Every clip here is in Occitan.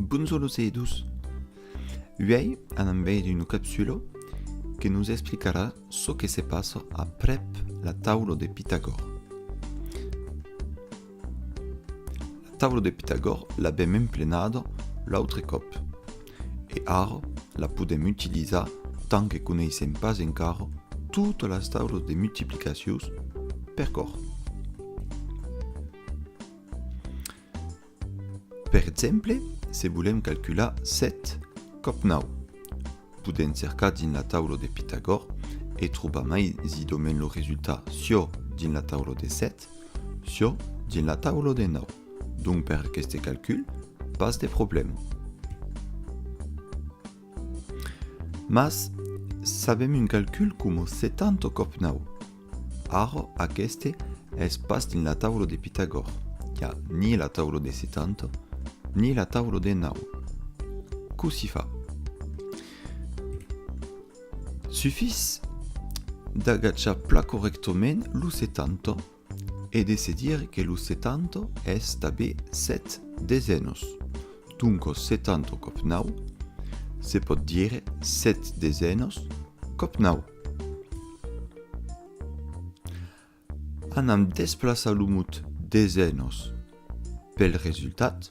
Bonjor los eidós! Uèi anam veire una capsula que nos explicarà çò que se passa aprèp la taula de Pitagòr. La taula de Pitagòr l'avèm emplenada l'autre còp e ara la podèm utilizar tant que coneissèm pas encara totas las taulas de multiplicacions per còr. Per exemple, se volèm calcular 7 còp 9, podèm cercar dins la taula de Pitagòr e trobar maisitdament lo resultat siò dins la taula de 7, siò dins la taula de 9. Donc per aqueste calcul, pas de problèma. Mas sabèm un calcul coma 70 còp 9. Ara, aqueste es pas dins la taula de Pitagòr, i a ni la taula de 70, ni la taula de 9. Cossí fa? Sufís d'agachar pla correctament lo 70 E de se dire que lo setanta es tabé sèt desenos, doncos setanta còp nau, se pòt dire sèt desenos còp nau. Anam desplaçar lo mot desenos pel resultat.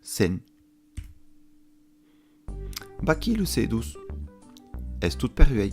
Sen. Vaquí los sedus. Es tot per uèi.